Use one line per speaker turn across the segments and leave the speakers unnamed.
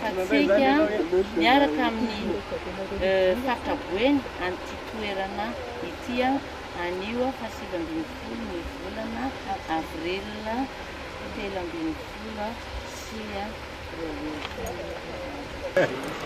Hatsika miaraka amin'ny Faritra Boeny an'ity toerana ity anio faha sivy ambin'ny folo ny volana avril telo ambin'ny folo sy roa arivo.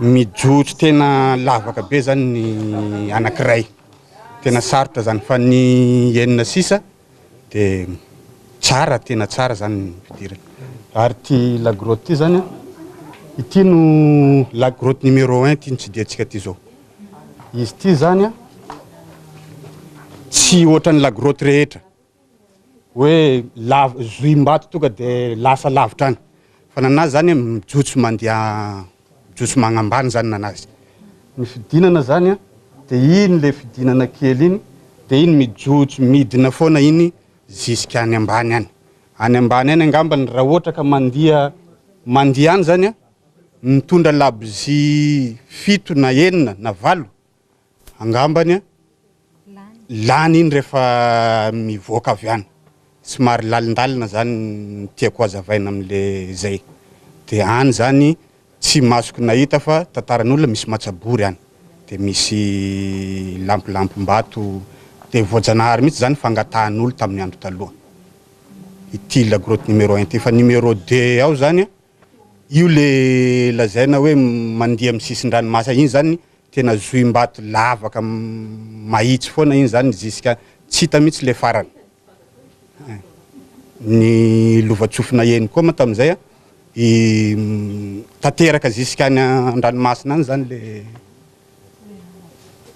Mijotso tena lavaka be zany ny anakiray, tena sarotra zany fa ny enina sisa de tsara, tena tsara zany ny fidirana. Ary ty la grotte ty zany, ity no la grotte numéro un ty nitsidihantsika ty zao, izy ty zany tsy ohatran'ny la grotte rehetra. hoe lav- zohim-bato tonga de lasa lavitra any fa nana azy zany mijotso mandeha mijotso magnambany zany nana azy ny fidinana zany an de iny le fidinana kely iny de iny mijotso midina foana iny zisk any ambany any any ambany any angambany raha ohatra ka mandia mandia any zany an mitondra labozia fito na enina na valo angambany a, lany iny rehefa mivoaka avy any, somary lalindalina zany ny tiako hazavaina amle zay de any zany tsy masoko nahita fa tantaran'olona misy matsabory any de misy lampolampombato de voajanahary mihitsy zany fangatahan'olo tamin'ny andro taloha ity la grotte numéro un ity fa numéro deux ao zany a Io le lazaina hoe mandihy amin'ny sisin-dranomasina iny zany tena zohim-bato lavaka mahitsy foana iny zany ziska tsy hita mihitsy le farany. Ny lovan-tsofina eny koa moa tamin'izay tanteraka ziskany an-dranomasina any zany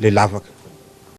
le lavaka.